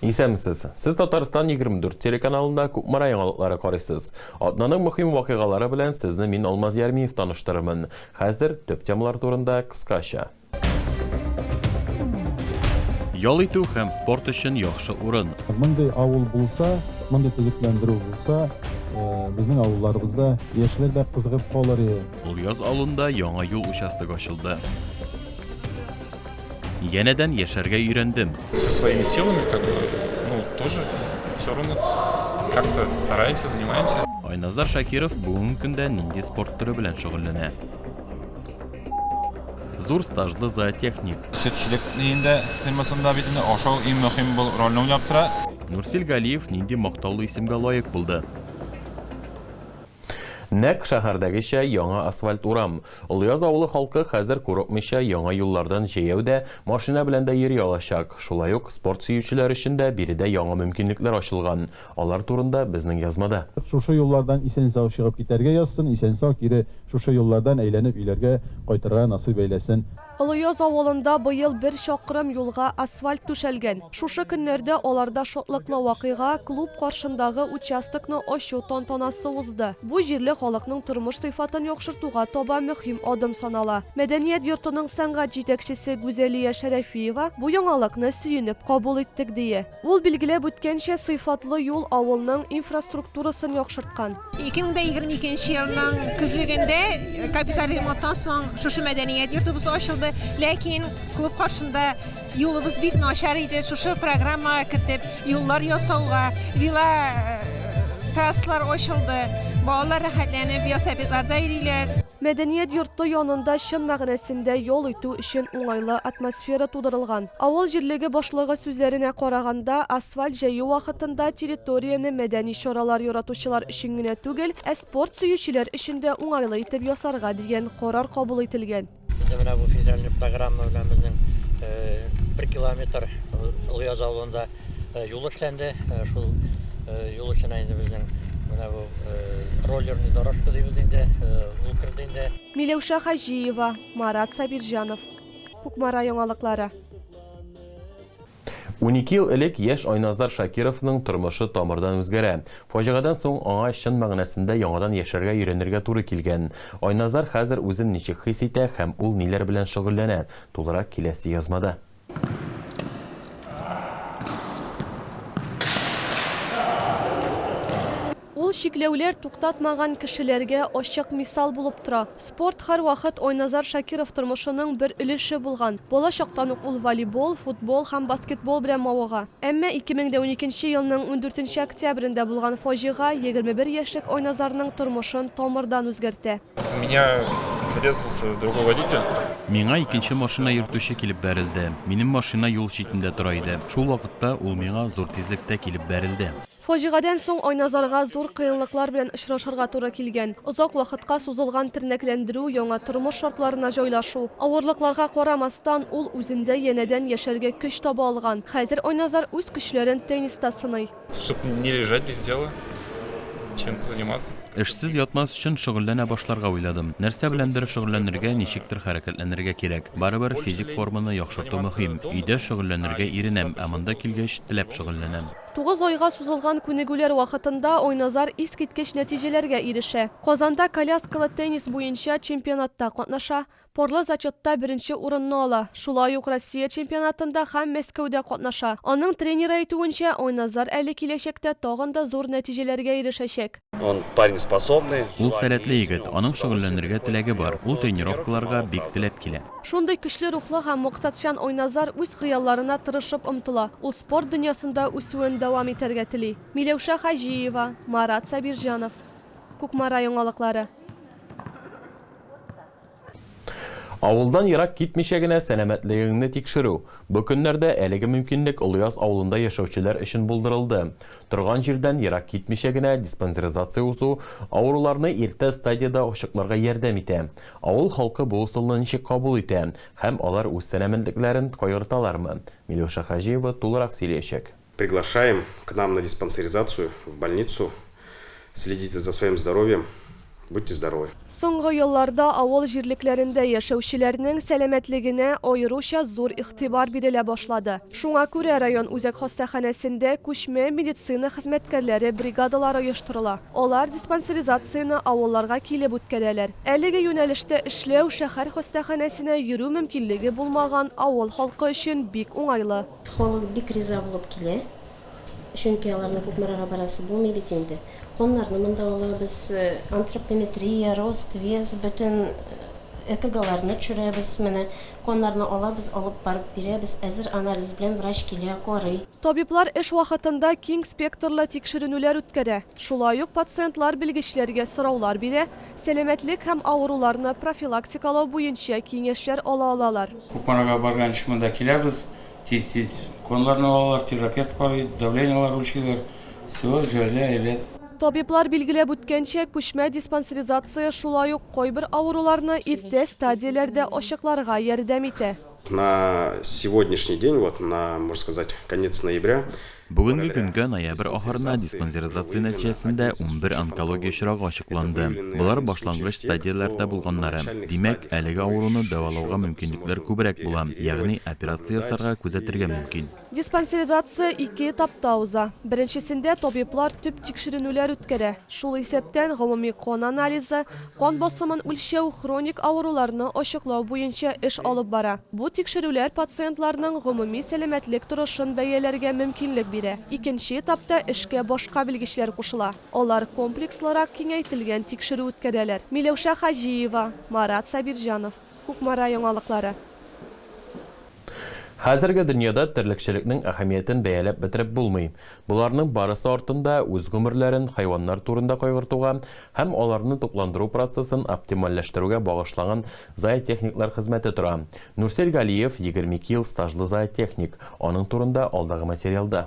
Исәнмесез! Сез Татарстан 24 телеканалында Кукмара яңалыклары карыйсыз. Атнаның мөһим вакыйгалары белән сезне мин Алмаз Ярмиев таныштырырмын. Хәзер төп темалар турында кыскача. Ял итү һәм спорт өчен яхшы урын. Мондый авыл булса, мондый төзекләндерү булса, безнең авылларыбызда яшьләр дә кызыгып калыр иде. Олъяз авылында яңа юл участогы ачылды. Янәдән яшәргә өйрәндем. Со своими силами, как бы, ну, тоже все равно как-то стараемся, занимаемся. Айназар Шакиров бүгенге көндә нинди спорт төре белән шөгыльләнә? Зур стажлы зоотехник. Сөтчелек инде фирмасында бит инде ашау иң мөһим бул рольне уйнап тора. Нурсил Галиев нинди мактаулы исемгә лаек булды? Нәкъ шәһәрдәгечә яңа асфальт урам. Олыяз авылы халкы хәзер курыкмыйча яңа юллардан җәяү дә, машина белән дә йөри алачак. Шулай ук спорт сөючеләр өчен дә биредә яңа мөмкинлекләр ачылган. Алар турында безнең язмада. Шушы юллардан исән-сау чыгып китәргә язсын, исән-сау кире шушы юллардан әйләнеп өйләргә кайтырга насыйп әйләсен. Олыяз авылында быел бер чакрым юлга асфальт түшәлгән. Шушы көннәрдә аларда шатлыклы вакыйга, клуб каршындагы участокны ачу тантанасы узды. Бу җирле халыкның тормыш сыйфатын яхшыртуга таба мөһим адым санала. Мәдәният йортының сәнгать җитәкчесе Гүзәлия Шәрәфиева бу яңалыкны сөенеп кабул иттек, дие. Ул билгеләп үткәнчә, сыйфатлы юл авылның инфраструктурасын яхшырткан. 2022 нче елның көзлегендә капиталь ремонттан соң шушы мәдәният йортыбыз ачылды. Ләкин клуб каршында юлыбыз бик начар иде. Шушы программага кертеп, юллар ясауга, вело трассалар ачылды. Балалар рәхәтләнеп велосипедларда йөриләр. Мәдәният йорты янында чын мәгънәсендә ял итү өчен уңайлы атмосфера тудырылган. Авыл җирлеге башлыгы сүзләренә караганда, асфальт җәю вакытында территорияне мәдәни чаралар яратучылар өчен генә түгел, ә спорт сөючеләр өчен дә уңайлы итеп ясарга дигән карар кабул ителгән. Безнең менә бу федераль программа белән безнең бер километр Олыяз авылында Э, юл эшләнде э, шул э, юл эченә инде безнең менә бу роллерный дорожка дибез инде ул керде инде миләүшә хаҗиева марат сабирҗанов кукмара яңалыклары 12 ел элек яшь Айназар Шакировның тормышы тамырдан үзгәрә. Фаҗигадан соң аңа чын мәгънәсендә яңадан яшәргә өйрәнергә туры килгән. Айназар хәзер үзен ничек хис итә һәм ул ниләр белән шөгыльләнә? Тулырак киләсе язмада. Ул чикләүләр туктатмаган кешеләргә ачык мисал булып тора. Спорт һәрвакыт Айназар Шакиров тормышының бер өлеше булган. Бала чактан ук ул волейбол, футбол һәм баскетбол белән мавыга. Әмма 2012 нче елның ундүртенче октябрендә булган фаҗига егерме бер яшьлек Айназарның тормышын тамырдан үзгәртә. Миңа икенче машина йөртүче килеп бәрелде. Минем машина юл читендә тора иде. Шул вакытта ул миңа зур тизлектә килеп бәрелде. Фаҗигадән соң Айназарга зур кыенлыклар белән очрашырга туры килгән. Озак вакытка сузылган тернәкләндерү, яңа тормыш шартларына җайлашу. Авырлыкларга карамастан, ул үзендә янәдән яшәргә көч таба алган. Хәзер Айназар үз көчләрен тенниста сыный. Эшсез ятмас өчен шөгыльләнә башларга уйладым. Нәрсә беләндер шөгыльләнергә, ничектер хәрәкәтләнергә кирәк. Барыбер физик форманы яхшырту мөһим. Өйдә шөгыльләнергә иренәм, ә монда килгәч, теләп шөгыльләнәм. Тугыз айга сузылган күнегүләр вакытында Айназар искиткеч нәтиҗәләргә ирешә. Казанда коляскалы теннис буенча чемпионатта катнаша, Парлы зачетта беренче урынны ала, шулай ук Россия чемпионатында һәм Мәскәүдә катнаша. Аның тренеры әйтүенчә, Айназар әле киләчәктә тагын да зур нәтиҗәләргә ирешәчәк. Ул сәләтле егет, аның шөгыльләнергә теләге бар, ул тренировкаларга бик теләп килә. Шундый көчле рухлы һәм максатчан Айназар үз хыялларына тырышып омтыла, ул спорт дөньясында үсүен дәвам итәргә тели. Миләүшә Хаҗиева, Марат Сабирҗанов, Кукмара яңалыклары. Авылдан ерак китмичә генә сәламәтлегеңне тикшерү. Бу көннәрдә әлеге мөмкинлек Олыяз авылында яшәүчеләр өчен булдырылды. Торган җирдән ерак китмичә генә диспансеризация узу авыруларны иртә стадиядә ачыкларга ярдәм итә. Авыл халкы бу ысулны ничек кабул итә һәм алар үз сәламәтлекләрен кайгырталармы, Миләүшә Хаҗиева тулырак сөйләячәк. Приглашаем к нам на диспансеризацию в больницу, следите за своим здоровьем, будьте здоровы. Соңгы елларда авыл җирлекләрендә яшәүчеләрнең сәламәтлегенә аеруча зур игътибар бирелә башлады. Шуңа күрә район үзәк хастаханәсендә күчмә медицина хезмәткәрләре бригадалары оештырыла. Алар диспансеризацияне авылларга килеп үткәрәләр. Әлеге юнәлештә эшләү шәһәр хастаханәсенә йөрү мөмкинлеге булмаган авыл халкы өчен бик уңайлы. Халык бик риза булып килә, чөнки аларның Кукмарага барасы булмый бит инде. Каннарны монда алабыз, антропометрия, рост, вес, бөтен ЭКГларны төшерәбез. Менә каннарны алабыз, алып барып бирәбез, әзер анализ белән врач килә, карый. Табиблар эш вакытында киң спектрлы тикшеренүләр үткәрә, шулай ук пациентлар белгечләргә сораулар бирә, Сәламәтлек һәм авыруларны профилактикалау буенча киңәшләр ала алалар. Кукмарага барганчы монда киләбез, тиз-тиз уколларны алалар, терапевт карый, давлениелар үлчиләр, всё җайлы, әйбәт. Табиблар билгеләп үткәнчә, күчмә диспансеризация шулай ук кайбер авыруларны иртә стадияләрдә ачыкларга ярдәм итә. На сегодняшний день, вот на, можно сказать, конец ноября, Бүгенге көнгә, ноябрь ахырына, диспансеризация нәтиҗәсендә унбер онкология очрагы ачыкланды. Болар башлангыч стадияләрдә булганнары. Димәк, әлеге авыруны дәвалауга мөмкинлекләр күбрәк була, ягъни операция ясарга, күзәтергә мөмкин. Диспансеризация ике этапта уза. Беренчесендә табиблар төп тикшеренүләр үткәрә, шул исәптән гомуми кан анализы, кан басымын үлчәү, хроник авыруларны ачыклау буенча эш алып бара. Бу тикшерүләр пациентларның гомуми сәламәтлек торышын бәяләргә мөмкинлек бирә. Икенче этапта эшкә башка белгечләр кушыла. Алар комплекслырак киңәйтелгән тикшерү үткәрәләр. Миләүшә Хаҗиева, Марат Сабирҗанов. Кукмара яңалыклары. Хәзерге дөньяда терлекчелекнең әһәмиятен бәяләп бетереп булмый. Боларның барысы артында үз гомерләрен хайваннар турында кайгыртуга һәм аларны тукландыру процессын оптимальләштерүгә багышланган зоотехниклар хезмәте тора. Нурсел Галиев, егерме ике ел стажлы зоотехник. Аның турында алдагы материалда.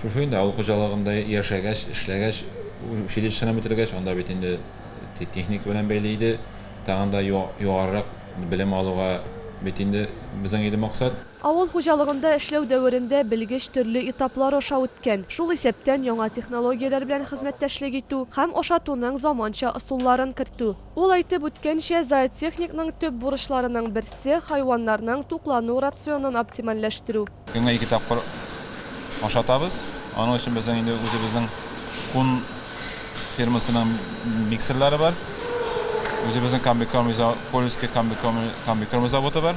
Шушы инде авыл хуҗалыгында яшәгәч, эшләгәч, училищены бетергәч, анда бит инде техника белән бәйле иде. Тагын да югарырак белем алуга бит инде безнең иде максат. Авыл хуҗалыгында эшләү дәверендә белгеч төрле этаплар аша үткән, шул исәптән яңа технологияләр белән хезмәттәшлек итү һәм ашатуның заманча ысулларын кертү. Ул әйтеп үткәнчә, зоотехникның төп бурычларының берсе, хайваннарның туклану рационын оптимальләштерү. Көнгә ике тапкыр ашатабыз. Аның өчен безнең инде үзебезнең Кун фирмасының миксерлары бар. Үзебезнең комбикорм изо, Кольский комбикорм комбикорм заводы бар.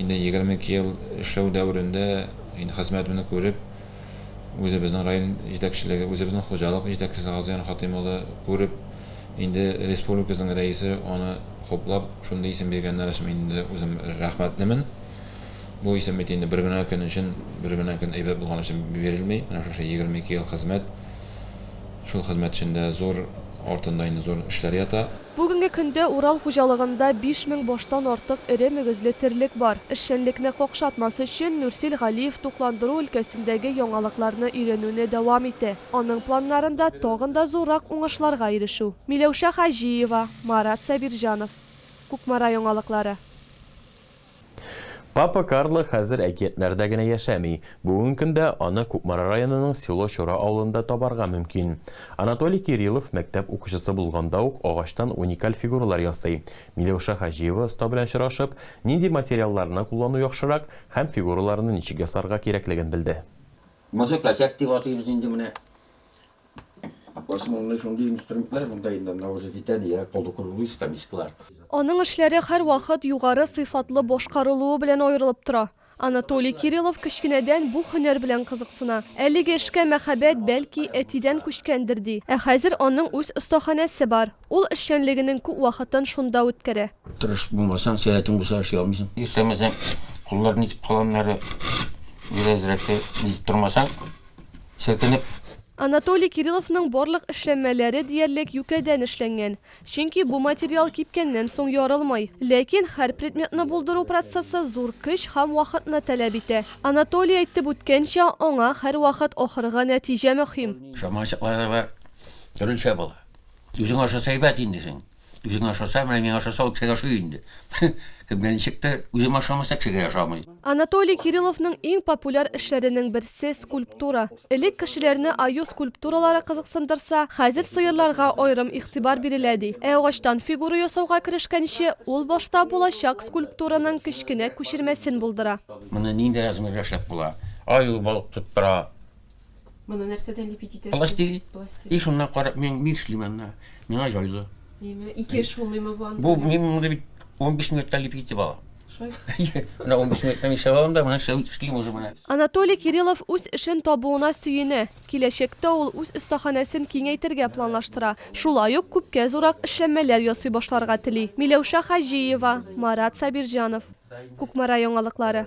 Инде егерме ике ел эшләү дәверендә инде хезмәтемне күреп, үзебезнең район җитәкчелеге, үзебезнең хуҗалык җитәкчесе Газыян Хатыйм улы күреп, инде республикабызның рәисе аны хуплап, шундый исем биргәннәр өчен мин инде үзем рәхмәтлемен. Бу исем бит инде бер генә көн өчен, бер генә көн әйбәт булган өчен бирелми. Менә шушы егерме ике ел хезмәт, шул хезмәт эчендә зур артында инде зур эшләр ята. Бүгенге көндә Урал хуҗалыгында биш мең баштан артык эре мөгезле терлек бар. Эшчәнлекне какшатмас өчен, Нурсил Галиев тукландыру өлкәсендәге яңалыкларны өйрәнүне дәвам итә. Аның планнарында, тагын да зуррак уңышларга ирешү. Миләүшә Хаҗиева, Марат Сабирҗанов. Кукмара яңалыклары. Папа Карло хәзер әкиятләрдә генә яшәми. Бүген көндә аны Кукмара районының Село Чора авылында табарга мөмкин. Анатолий Кириллов мәктәп укучысы булганда ук агачтан уникаль фигуралар ясый. Миләүшә Хаҗиева оста белән очрашып, нинди материалларны куллану яхшырак һәм фигураларны ничек ясарга кирәклеген белде. Музыка-зәк дип атыйбыз инде менә. Основные шундый инструментлар монда инде, менә уже китәния, полукруглый скамисклар. Аның эшләре һәрвакыт югары сыйфатлы башкарылуы белән аерылып тора. Анатолий Кириллов кечкенәдән бу һөнәр белән кызыксына. Әлеге эшкә мәхәббәт, бәлки, әтидән күчкәндер, ди. Ә хәзер аның үз остаханәсе бар. Ул эшчәнлегенең күп вакытын шунда үткәрә. Тырыш булмасаң, сәләтең булса эшли алмыйсың. Исәнмесең, куллар нитеп кала аннары, беразрәк тә нитеп тормасаң, селкенеп. Анатолий Кирилловның барлык эшләнмәләре диярлек юкәдән эшләнгән, чөнки бу материал кипкәннән соң ярылмый. Ләкин һәр предметны булдыру процессы зур көч һәм вакытны таләп итә. Анатолий әйтеп үткәнчә, аңа һәрвакыт ахыргы нәтиҗә мөһим. Чама-чаклары да төрлечә була. Үзең ашаса әйбәт инде син. Үзең ашаса, менә миңа ашаса, ул кешегә ашый инде. Кемгә ничек тә үзем ашамаса, кешегә ашамый. Анатолий Кирилловның иң популяр эшләренең берсе, скульптура. Элек кешеләрне аю скульптуралары кызыксындырса, хәзер сыерларга аерым игътибар бирелә, ди. Ә агачтан фигура ясауга керешкәнче, ул башта булачак скульптураның кечкенә күчермәсен булдыра. Моны нинди размерда эшләп була? Аю балык тоттыра. Моны нәрсәдән лепить итәсең? Пластилин. И Пластилин. шуннан карап, мин мин эшлим анда. Миңа җайлы. Миме? Ике эш булмыймы бу анда? Бу мин моны бит 15 минутта лепить итеп алам. Шулай. Менә 15 минутта мин эшләп алам да, менә эшләп эшлим уже менә. Анатолий Кириллов үз эшен табуына сөенә. Киләчәктә ул үз остаханәсен киңәйтергә планлаштыра. Шулай ук күпкә зуррак эшләнмәләр ясый башларга тели. Миләүшә Хаҗиева, Марат Сабирҗанов. Кукмара яңалыклары.